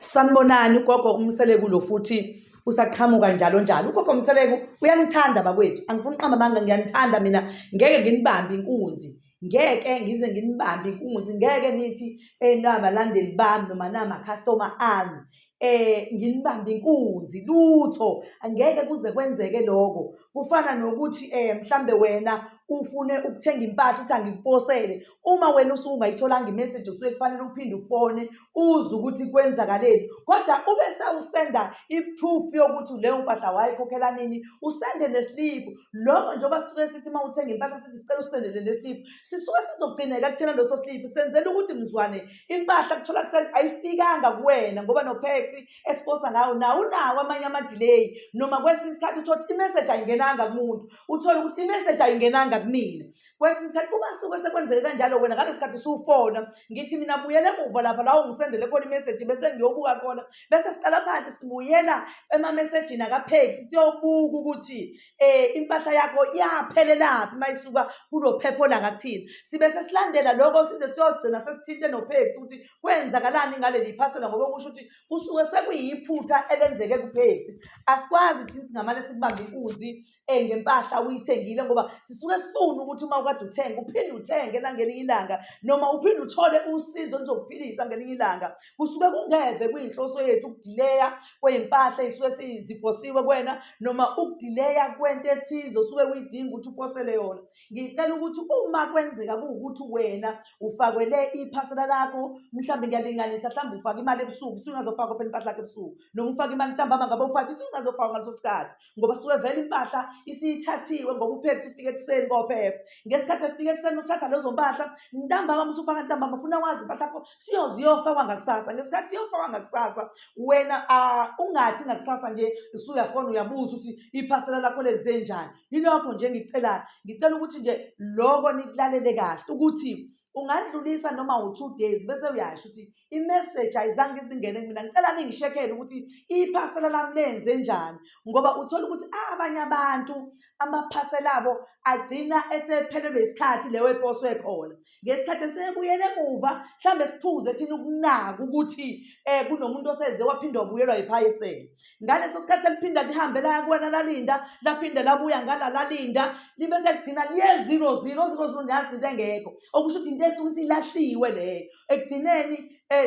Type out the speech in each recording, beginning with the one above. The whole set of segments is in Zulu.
Sanibonani ugogo umseleku lo futhi usaqhamuka njalo njalo ugogo mseleku uyanithanda bakwethu angifuni uqamba amanga ngiyanithanda mina ngeke nginibambe inkunzi ngeke ngize nginibambe inkunzi ngeke nithi eh nabalandeli bami noma namakhastoma ami eh nginibambe inkunzi lutho angeke kuze kwenzeke lokho kufana nokuthi eh mhlambe wena ufune ukuthenga impahla uthi angikuposele uma wena usuke ungayitholanga imessage usuke kufanele uphinde ufone uze ukuthi kwenzakaleni kodwa ube sewusenda i-proof yokuthi leyo mpahla wayikhokhela nini usende nesiliphu lokho njengoba sisuke sithi uma uthenga impahla sithi sicela usendele nesiliphu sisuke sizogcineka kuthena leso siliphu senzela ukuthi mzwane impahla kuthola ayifikanga kuwena ngoba nopex esiposa ngawo nawo unawo amanye amadileyi noma kwesinye isikhathi uthole ukuthi imessage ayingenanga kumuntu uthole ukuthi imessage ayingenanga kumina kwesinye isikhathi uma suke sekwenzeke kanjalo wena ngale sikhathi usufona ngithi mina buyela emuva lapha lawo ngisendele khona imeseji bese ngiyobuka khona bese siqala phansi sibuyela emamesejini akapheki siyobuka ukuthi um impahla yakho yaphelelaphi uma isuka kulo phepho lakakuthini sibe sesilandela lokho size siyogcina sesithinte nopheki ukuthi kwenzakalani ngaleli phasela ngoba kusho ukuthi kusuke sekuyiphutha elenzeke kupheki asikwazi thina singamane sikubambe inkunzi um ngempahla uyithengile ngoba sisuke sifune ukuthi uma ukade uthenge uphinde uthenge nangelinye ilanga noma uphinde uthole usizo oluzokuphilisa ngelinye ilanga kusuke kungeve kuyinhloso yethu ukudileya kwey'mpahla ey'suke siziphosiwe kwena noma ukudileya kwento ethize osuke uyidinga ukuthi uphosele yona ngicela ukuthi uma kwenzeka kuwukuthi wena ufakwele iphasela lakho mhlawumbe ngiyalinganisa mhlawumbe ufake imali ebusuku usungazofaka phela impahla lakho ebusuku noma ufake imali ntambama ngabe ufake usungazofaka ngaleso sikhathi ngoba suke vele impahla isiyithathiwe ngoba uphekisa ufike ekuseni kophepha ngesikhathi efika ekuseni uthatha lezo mpahla ntambama musufaka ntambama funa wazi impahla yakho siyoze iyofakwa ngakusasa ngesikhathi iyofakwa ngakusasa wena ungathi ngakusasa nje usuyafona uyabuza ukuthi iphasela lakho lenze njani yilokho nje ngicelayo ngicela ukuthi nje loko nikulalele kahle ukuthi ungadlulisa noma u-two days bese uyasho ukuthi imeseji ayizange izingene kumina ngicela ningishekele ukuthi iphasela lami lenze njani ngoba uthola ukuthi ah, abanye abantu amaphasela abo agcina esephelelwe isikhathi leyo eposwe khona ngesikhathi esebuyele emuva mhlawumbe siphuze thina ukunaka ukuthi um kunomuntu osenze waphinde wabuyelwa yiphayesela ngaleso sikhathi eliphinda lihambe laya kuwena lalinda laphinde labuya ngala lalinda libe seligcina liye zero zero zero zero nyazi into engekho okusho ukuthi into esuke isilahliwe leyo ekugcineni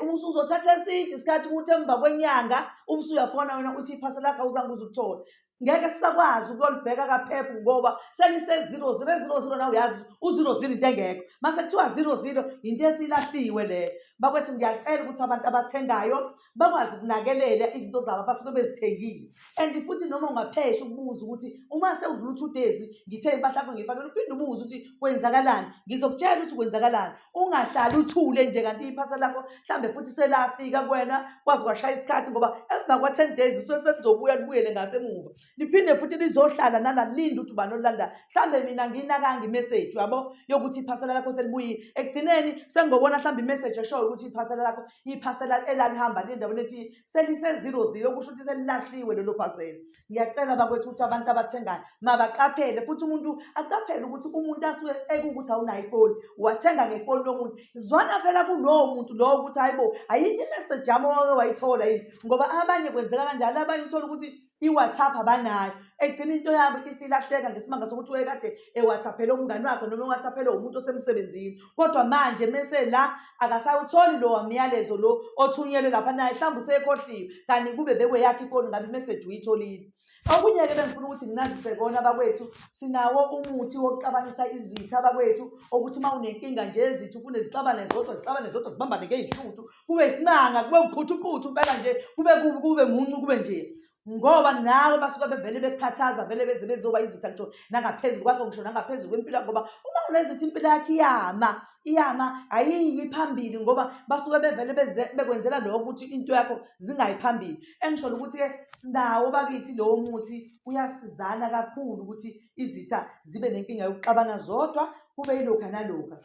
um usuzothatha eside isikhathi ukuthi emva kwenyanga umse uyafona wena uthi iphasa lakho awuzange uze ukuthole ngeke sisakwazi ukuyolibheka kaphephu ngoba seliseziro ziro eziro ziro nawe uyazi uziro ziro into engekho mase kuthiwa ziro ziro yinto esilahliwe leyo bakwethu ngiyacela ukuthi abantu abathengayo bakwazi ukunakelela izinto zabo abasuke bezithengile and futhi noma ungaphesha ukubuza ukuthi uma sewudlula u-two days ngithe impahla yakho ngiyifakela uphinde ubuze ukuthi kwenzakalani ngizokutshela ukuthi kwenzakalani ungahlali uthule nje kanti iphasa lakho mhlawumbe futhi selafika kuwena kwazi kwashaya isikhathi ngoba emva kwa-ten days usuke selizobuya libuyele ngasemuva liphinde futhi lizohlala nala linde ukuthi ubani olulanda mhlawumbe mina ngiyinakanga imeseji yabo yokuthi iphasela lakho selibuyile ekugcineni sengobona mhlawumbe imeseji eshoyo ukuthi iphasela lakho iphasela elalihamba lindaweni ethi selisezilo zilo kusho ukuthi selilahliwe lelo phasela ngiyacela bakwethu ukuthi abantu abathengayo mabaqaphele futhi umuntu aqaphele ukuthi umuntu asuke ekukuthi awunayo ifoni wathenga ngefoni yomuntu zwana phela kulowo muntu lowo ukuthi hayibo ayikho imeseji yami owake wayithola yini ngoba abanye kwenzeka kanjalo abanye uthola ukuthi i-whatsapp abanayo egcina into yabo isilahleka ngesimanga sokuthi wayekade ewhatsaphele umngani wakhe noma ewhatsaphele umuntu osemsebenzini kodwa manje mese la akasawutholi lo wamyalezo lo othunyelwe lapha naye mhlawumbe usekhohliwe kanti kube bekweyakhe ifoni ngabe imeseji uyitholile okunye-ke bengifuna ukuthi nginazise kona abakwethu sinawo umuthi wokuxabanisa izitha abakwethu okuthi uma unenkinga nje ezitha ufune zixabane zodwa zixabane zodwa zibambane-ke izihluthu kube isimanga kube uqhuthuqhuthu impela nje kube kubi kube muncu kube nje ngoba nawe basuke bevele bekukhathaza vele beze bezoba izitha ngisho nangaphezulu kwakho ngisho nangaphezulu kwempilo yakho ngoba uma unezithi impilo yakho iyama iyama ayiyi phambili ngoba basuke bevele bekwenzela lokho ukuthi into yakho zingayi phambili engisholo ukuthi-ke sinawo bakithi lowo muthi uyasizana kakhulu ukuthi izitha zibe nenkinga yokuxabana zodwa kube yilokha nalokha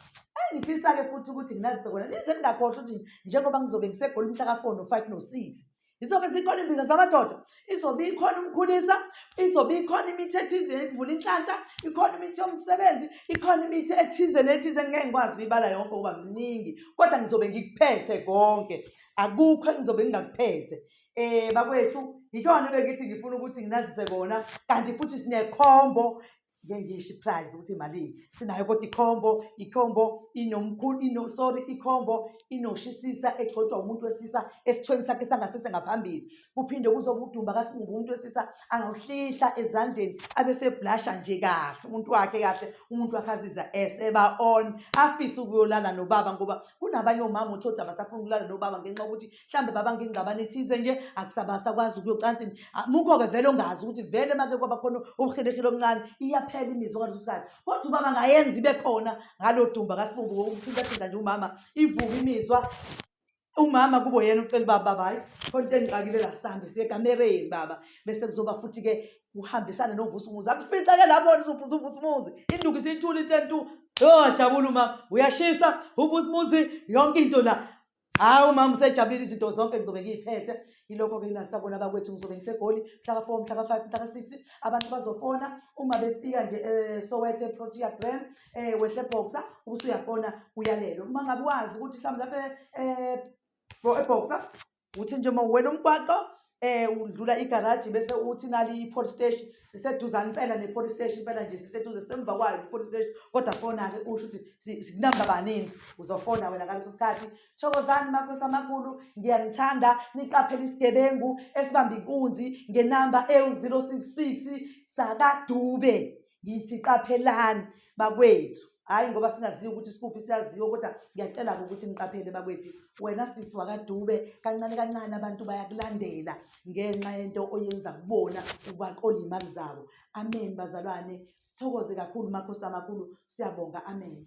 Engifisa-ke futhi ukuthi nginazise kona nize ningakhohlwa ukuthi njengoba ngizobe ngisegoli mhla ka-four no-five no-six izobe zikhona imbiza zamadoda izobe ikhona umkhulisa izobe ikhona imithi ethize yokuvula inhlanta ikhona imithi yomsebenzi ikhona imithi ethize nethize ngeke ngikwazi ukuyibala yonke ukuba mningi kodwa ngizobe ngikuphethe konke akukho engizobe ngingakuphethe um bakwethu yikona ebengithi ngifuna ukuthi nginazise kona kanti futhi sinekhombo ngike ngisho iprize ukuthi imalini sinayo kodwa ikhombo ikhombo inomkhulu ino sorry ikhombo inoshisisa egcotshwa umuntu wesilisa esithweni sakhe sangasese ngaphambili kuphinde kuzoba udumba kasingubo umuntu wesilisa angawuhlihla ezandleni abeseblasha nje kahle umuntu wakhe kahle umuntu wakhe aziza eseba on afise ukuyolala nobaba ngoba kunabanye omama uthi othi abasafuni ukulala nobaba ngenxa yokuthi mhlawumbe baba ngingxabane ethize nje akusabasa kwazi ukuyocansini ah, mukho-ke vele ongazi ukuthi vele make kwaba khona ubuhilehile omncane iyaphela imizwa kalesosikhathi kodwa ubaba ngayenza ibe khona ngalo dumba kasibumbu wokuthintathinta nje umama ivuka imizwa umama kubo yena ucela uba baba hayi khona into engixakile la sihambe siye ekamereni baba bese kuzoba futhi-ke kuhambisane novusa umuzi akufice-ke lapho nizovusa uvusa umuzi induku isithula i-ten two yojabula umama uyashisa uvusa umuzi yonke into la Cha umama usejabulile izinto zonke ngizobe ngiyiphethe ilokho ke nasabona bakwethu ngizobe ngisegoli mhla ka-4 mhla ka-5 mhla ka-6 abantu bazofona uma befika nje eh, sowethe protea gram eh, wehle boxa ubusuyafona uyalelo uma ngabe wazi ukuthi mhlawumbe lapha eh, bo- eboxa uthi nje uma uwela umgwaqo um udlula igaraji bese uthi nali i-port station siseduzane impela ne-port station impela nje siseduze semva kwayo i-port station kodwa fona-ke usho ukuthi sikunamba baningi uzofona wena ngaleso sikhathi thokozani makhosi amakhulu ngiyanithanda niqaphele isigebengu esibamba inkunzi ngenamba ewu-zero six six sakadube ngithi qaphelani bakwethu hhayi ngoba singaziwa ukuthi sikuphi siyaziwa kodwa ngiyacela-ke ukuthi niqaphele bakwethu wena sisi wakadube kancane kancane abantu bayakulandela ngenxa yento oyenza kubona ubaqola iy'mali zabo amen bazalwane sithokoze kakhulu makhosi amakhulu siyabonga amen